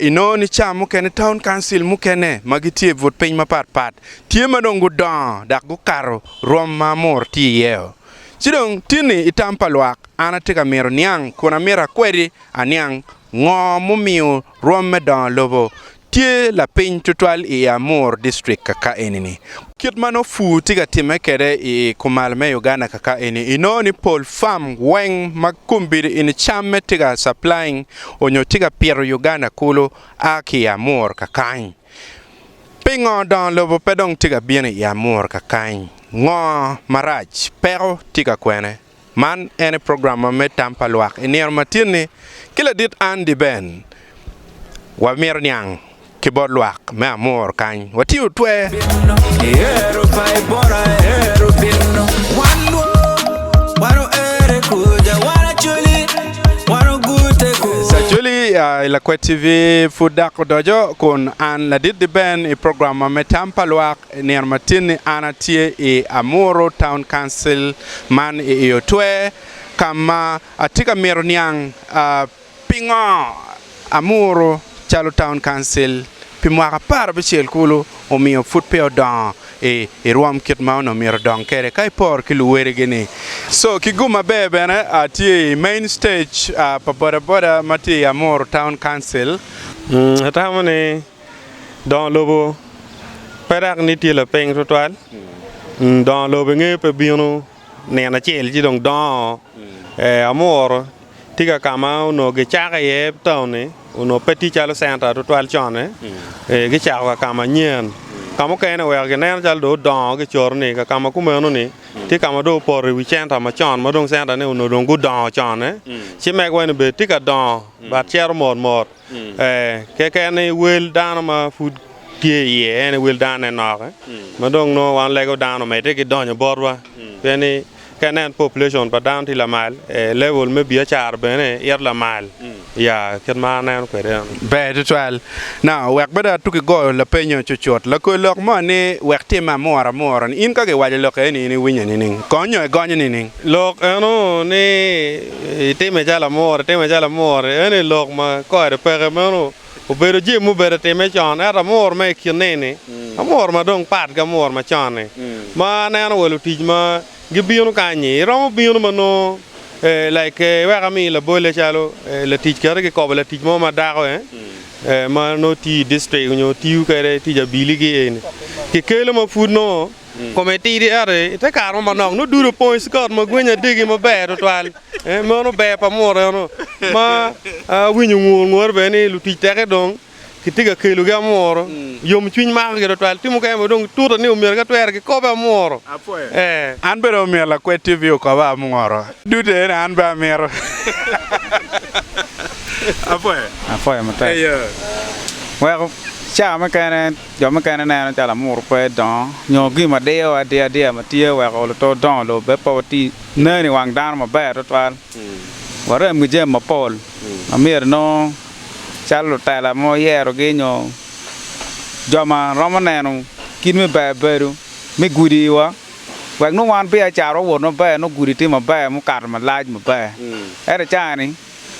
Inongo ni cawa mukene taun kauncil mukene ma gitye i but piny mapat pat tye ma dong gudongo dok gukato rwom ma amur tye iyeo. Ci dong tini i tam pa lwak an atye ka mito niang kun amito akwedi aniang ngo mumiyo rwom me dongo lobo tye lapiny tutwal i Amur district kaka eni ni. Kit ma nongo pur tye ka timme kwede i kumal me Uganda kaka eni, inongo ni pol farm weng ma kombeddi eni cam me tye ka supplying onyo tye ka pito Uganda kulu a ki i Amur kakany. Pingo dongo lobo pe dong tye ka bino i Amur kakany? Ngo marac? Peko tye ka kwene? Man ene program ma me tam pa lwak. I nino matinni, ki ladit Andy Ben, wamito niang ki bot lwak me Amur kany. Watye otwer. Acholi i Lakwet TV pud dok odoco kun an ladit di Ben i program ma me tam pa lwak. I nino matin-ni an atye i Amuru Town Council man i Oyo Twer ka ma atye ka mito niang pingo Amuru calo Town Council pi mwaka apar abicel kulu omiyo pud pe odongo i rwom kit ma onongo myero odong kwede ka iporo ki luwodigi-ni. Co ki gum maber bene atye i Main Stage pa bodaboda ma tye i Amuru Town Council. Atamo ni Dongo lobo pe dak ni tye lapeny twatwal, dongo lobo i nge pe bino nino acel ci dong dongo. Amuru tye ka ka ma onongo gicako iye taun ni onongo pe tye calo centa twatwal con-ni, gicako ka ka manyen. Ka mukene oweko gineno calo dong odongo gicoto ni ka ka ma kumeno ni tye ka ma dong opoto i wi centa macon ma dong centane onongo dong gudongo con-ne ci mege wai ni bene tye ka dongo but cito mot mot. Ee, keken ni wel dano ma pud tye iye en aye wel danone nokke, ma dong nongo wan lego dano omedde ki donyo botwa. Pien ni ka inen population pa dano tye lamal, ee, level me biacara bene ito lamal. Ya, kit ma aneno kwede eno. Ber tutwal. Now, wek bed atu kigoyo lapenyo cucut, lakol lok mo ni, Wek tim ma amuro amuro-ni, in ka giwaco lok eni in iwinye nining? Kong nyo igonyo nining? Lok eno ni itime calo amuru, itime calo amuru eno ni lok ma kore peke meno obedo jami ma obedo time con ento amuru ma i kine ni amuru ma dong pat ki amuru ma con ni ma aneno wa lutic ma gibino kanyi iromo bino ma nongo like wek ami labolle calo latic kadi ki kobo latic mo ma dako ma nongo tiyo i district nyo tiyo kwede tic abili gi eni ki kelo ma pud nongo kome tidi ento i te kare mo manok nongo dude opong i cigot ma gwinya degi maber tutwal. Eh, meno ber pa mureno ma awinyo ngur ngure bene ni lutic teke dong kitye ka kelogi amuro. Yom cwiny mako gi tutwal. Tye mukene ma dong tuta ni omyero ka twero gikobe amuro. Eh. An bene omyero lakwed TV okoba amuro. Dute eni an bene amito. Apwoyo. Apwoyo matek. Eya. Weko caa mukene. Jo mukene neno calo amuru pe dongo nyo gin ma diyo adiyaadiya ma tye weko luto dongo lubbe pe wati nen i wang dano maber tutwal. Warem ki jami mapol ma myero inongo calo lutela ma wayerogi nyo jo ma romo neno kit me ber bedo me gudi iwa wek nongo wan biacara owot maber nongo gudi tye maber mukato malac maber. Ento cani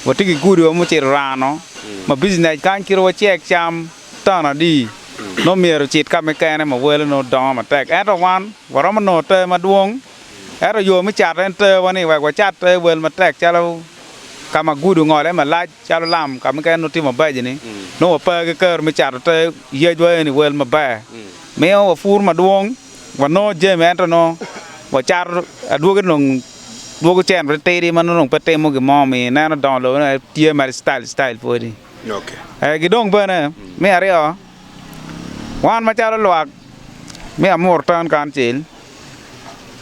watye ki gudiwa mucito rano ma bijinec kany kit wacek cam. Taun adi nongo myero ocit ka mukene ma wele nongo dongo matek, ento wan waromo nongo ter madwong. Ento yo me cato en terwa ni wek wacat ter wel matek calo ka ma gudo ongole malac calo lam ka mukene nongo tye mabeco-ni, nongo wape ki kero me cato ter yecwa eni wel maber. Miyo wapur madwong, wanongo jami ento nongo wacato adwogi dong dwogo cen titidi ma nongo dong pe timo gin mo omiyo ineno dongo lobo ni weng tye mere citayil citayil pwodi. Ki dong bene, me aryo, wan macalo lwak me Amur Taun Kauncil,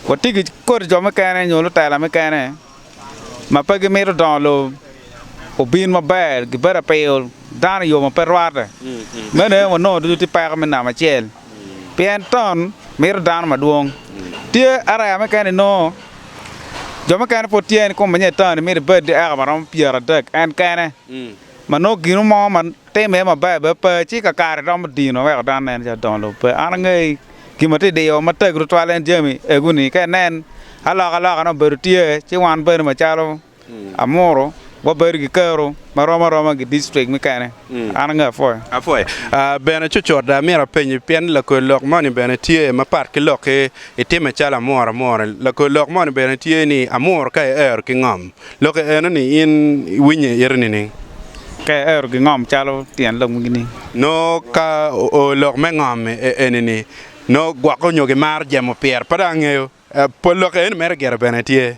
watye ki kodi jo mukene nyo lutela mukene ma pe gimito dongo lobo obin maber, gibedo ka piyo dano i yo ma pe rwatte. Meno aye wanongo ducu tye peko me namba acel. pien ton mito dano madwong. Tye araya mukene inongo jo mukene pud tye ni kume nyo toni mito ibed dyeka ma romo pyeradek en kene ma nongo ginu mo ma time aye maber bene pe ci kakare romo dino ma weko dano neno calo dongo lobo pe. An angey gin ma tye diyo matek tutwal en jami egu-ni ka inen alokaloka nongo obedo tye ci wan bene macalo Amuru wabedo ki kero ma rom aroma gi district mukene. An ange Afoya. Afoya. Ah, bene cucut amito apenyi, pien lakor lok moni bene tye mapat ki lokki, itime calo Amuru Amuru. Lakor lok moni bene tye ni Amuru ka iero ki ngom. Lokke enoni in iwinye i ite nining? Ka iero ki ngom calo tyen lok magi ni. Noo ka oo lok me ngom enini, noo gwokke onyo gimaro jemo pire, pe dong angeyo. Pol lok eni mere gire bene tye.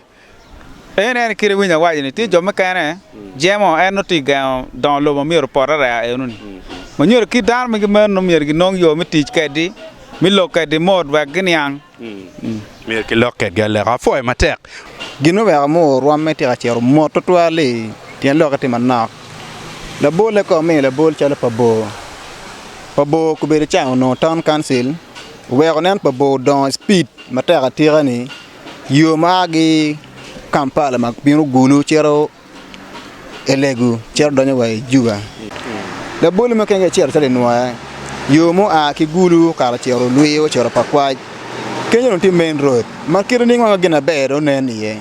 En en kit winyo awaco ni tye jo mukene jemo en nongo tye gengo dongo lobo myero opot areya eno ni ma nyuto kit dano magi meno myero gi nong yo me tic kedi me lok kedi mot wek gi niang myero ki lok kedi aleka apoyo matek gin me weko mo orwom me tika cito mot tutwal li pien loke tye manok labole ka omiyo labol calo pa bor pa bor kubedo ca onongo town council. Oweko nen pa bor dongo i cipid matek atika ni yo ma a ki Kampala ma bino Gulu cito Elegu cito donyo wa i Juba. Laboli mukene gicito acita i nwoya, yo ma oa ki Gulu okato ocito Lwiyo ocito Pakwac. Kenyo dong tye main road ma kite nining ma gin maber dong nen iye.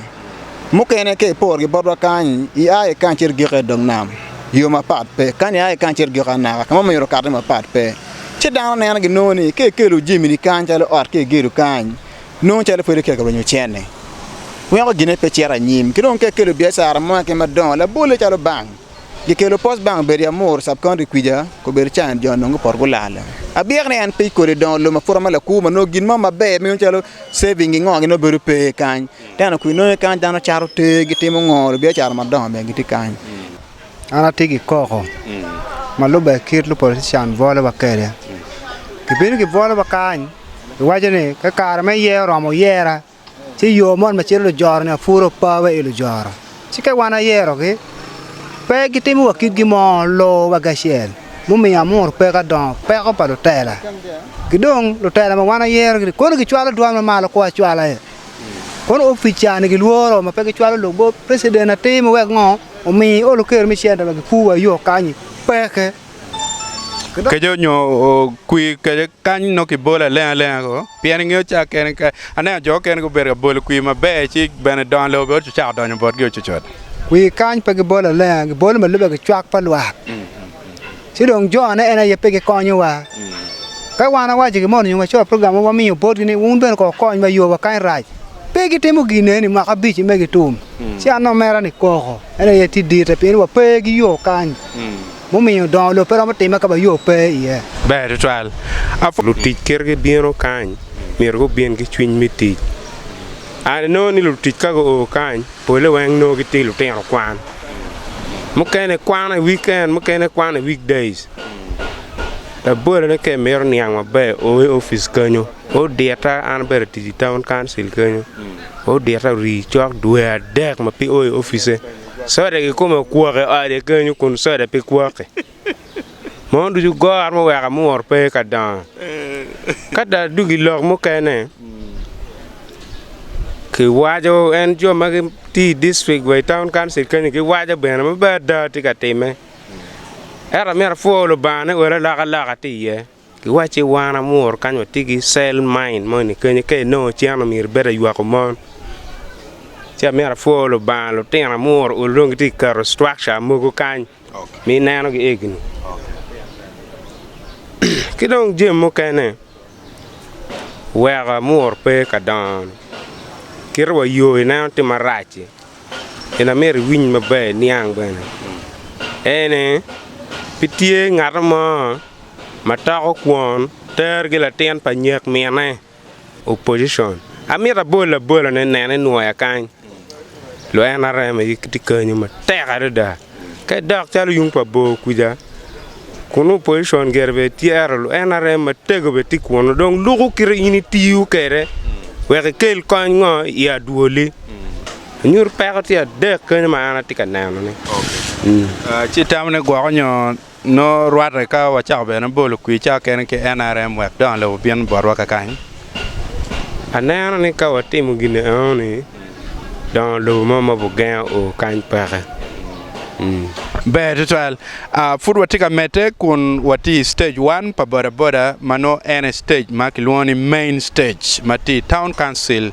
Mukene ka iporgi botwa kany-nyi, ia ki kany icito igik i dog nam, yo mapat pe. Kany ia ki kany icito igik anaka, ka ma myero okati mapat pe. Ci dano neno ginongo ni ka ikelo jami-ni kany calo ot ka igedo kany, nongo calo pe itye ka rwenyo cente. Weko ginne pe cito anyim. Ki dong ka ikelo biacara mo keken madongo labolle calo bank, gikelo post bank obedo i Amuru sub county kwica, kobedo can jo nongo gupoto gulal. Abyek ni en pe ikole dongo lum aputa me lakur ma nongo gin mo maber meno calo saving gi ngo-gi nongo bedo pe kany. Te nongo kwir nongo kany dano cato ter gitimo ngo, lubiacara madongo bene gitye kany. An atye ki koko ma lubbe kit lupolician bwolowa kwede. Gibino gibwolowa kany, giwaco ni ka kare me yer oromo yera, ci yo mot ma cito lujoro-ni apwuro opa wa i lujoro. Ci ka wan ayerogi, pe gitimo wa kitgi mo, loo wa kacel, mumiyo amuro peko adongo, peko pa lutela. Ki dong lutela ma wan ayerogi-ni kono gicwalo dwol mamalo koo acwala. Kono opica ni gilworo ma pe gicwalo lugob president atir ma wek ngo omi olo ker me center ma gikur wa yo kanyi peke. Keco nyo okwi kece kany nongo kibolo aleng alenga ko pien ingeyo ca kene ka aneno jo mukene gubedo ka bolo kwi maber ci bene dongo lobo bene ocako donyo botgi ococot. Kwi kany pe gibolo alenga gibolo ma lube ki cwak pa lwak. ci dong jone en aye pe gikonyowa. Ka wan wawaco gin mo nyo wacoyo program mo wamiyo botgi ni wun bene kong wukonye ma yowa kany rac. Pe gitimo ginne ni mwaka abic-ci me gitum. Ci an dong mera ni koko en aye tye ditte pien wa pe ki yo kany, mumiyo dongo lobo pe romo timme ka ma yo pe iye. Ber tutwal. Lutic kit gibino kany myero gubin ki cwiny me tic. An inongo ni lutic ka guo kany pole weng nongo gitye lutino kwan, mukene kwano i wiken mukene kwano i week days. Labolane ka imito niang maber o i opic kenyo, odita an abedo atic i taun kancil kenyo, odita ori cok dwe adek ma pe o i opice, soda kikome okwok i ode kenyo kun soda pe kwok-ki. Mono ducu gor muweko amur pe ka dongo. Ka dong dong i lok mukene kiwaco en jo ma gitye i dictric wa i taun kancil kenyo giwaco bene ma bene ada tye ka timme. Ento amyero apwo Lubanga ni odi alokaloka tye iye. Giwacci wan amur kany watye ki cell mine moni kenyo ka inongo cen omyero ibed aywako mon ci amyero apwor lubanga lutino amur ol dong gitye ka keto structure mogo kany ma inenogi egini ki dong jami mukene weko amur pe ka dongo kite wa yo ineno tye marac-ci gin amyero iwiny maber iniang bene ene pe tye ngat mo ma toko kwon ter gi latin pa nyek mine, opposition, amito abol abola ne nen inwoya kany, lo nrm aye gitye kenyo matek adada, ka idok calo yung pa bor kuca kun nongo opposition gire bene ityero lo nrm matego bene tye kunu dong luku kite in itiyo kwede wek ikel kony ngo i adwoli, nyuto peko tye adek kenyo ma an atye ka neno ni. Ci itamo ni gwoko nyo Nongo rwatte ka wacako bene bolo kwirca kene ki NRM wek dongo lobo obin botwa kakany. Aneno ni ka watimo gin enoni, dongo lobo mo ma Bugenge oo kany peke. Ber tutwal. Pud watye ka medde kun watye i Stage One pa bodaboda ma nongo en aye stage ma kilwongo ni Main Stage ma tye i Town Council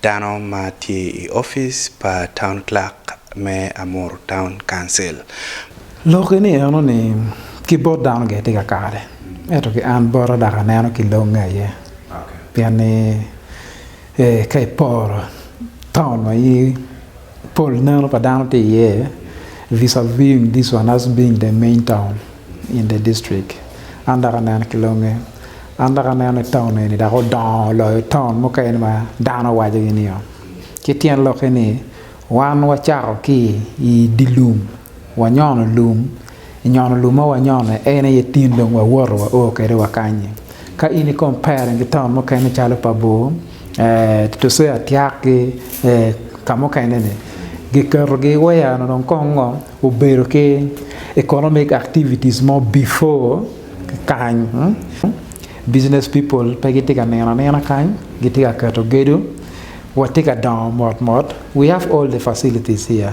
Dano ma tye i opic pa Town Clerk me Amuru Town Council. Loki ni eno ni ki bot dano gire tye ka kare ento ki an bota dok aneno ki longe aye pien ni ka iporo town ma i Pol neno pa dano tye iye vis-a-viing this one as being the main town in the district. An dok aneno ki longe. An dok aneno ni taun eni dok odongo loyo taun mukene ma dano wacogi nio. Ci tyen lokke ni, wan wacako ki i dye lum, wanyono lum, Nyono lum ma wanyono en aye tin dong wawoto wao kwede wakanyi. Ka in i compare ki taun mukene calo pa bor, tuswea tyak ki ka mukene ni giketo gi waya onongo dong kong ngo obedo ki economic activities mo before kany business people pe gitye ka nino anina kany gitye ka keto gedo watye ka dongo mot mot we have all the facilities here.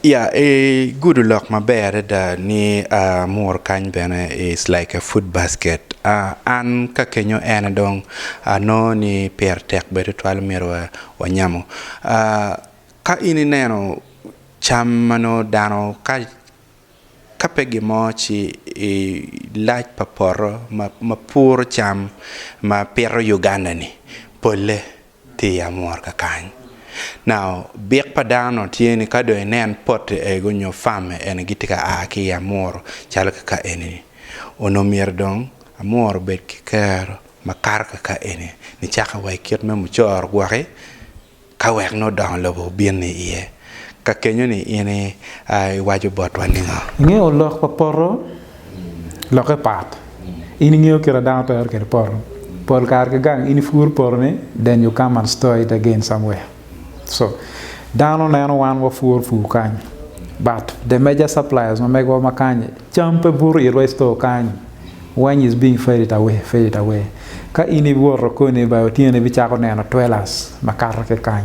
Ya, igudo lok maber adada ni amuru kany bene is like a food basket. An ka kenyo ene dong anongo ni pire tek bene tutwal myero wanyamo. Ka in ineno cam ma nongo dano ka ka pe gin mo ci i lac pa poto ma puro cam ma pito Uganda-ni polle. Pi amwor kakany. Now, bik pa dano tye ni ka dong inen pote ego nyo famme ene gitye ka aa ki i amworo calo kaka eni ni, Onongo myero dong amworo obed ki kero makato kaka eni ni caka wa i kit me mucoro gwoki ka wek nongo dongo lobo obin ni iye. Ka kenyo-ni in iwaco botwa ningo? Ingeyo lok pa poto? Lokke pat. In ingeyo kit ma dano twero kwede poto? Pol kare ki gang in ipur poto ni then you come and store it again somewhere. So, dano neno wan wapuro pur kany but the major suppliers ma megowa ma kany-nyi, cam pe buto itwa i store kany. Wany is being fed it away, fed it away. Ka in iwoto koni ba otyeno ibicako neno twelers ma kato ki kany.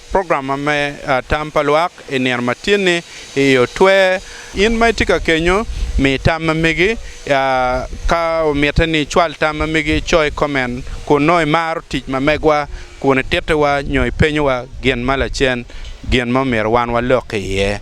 Program ma me tam pa lwak i nino ma tyenni i otwe. In ma itye ka kenyo, mi tam ma megi. Ka omitte ni icwal tam ma megi, ico i koment kun nongo imaro tic ma megwa kun itittiwa nyo ipenyowa gin ma lacen, gin ma omyero wan walok iye.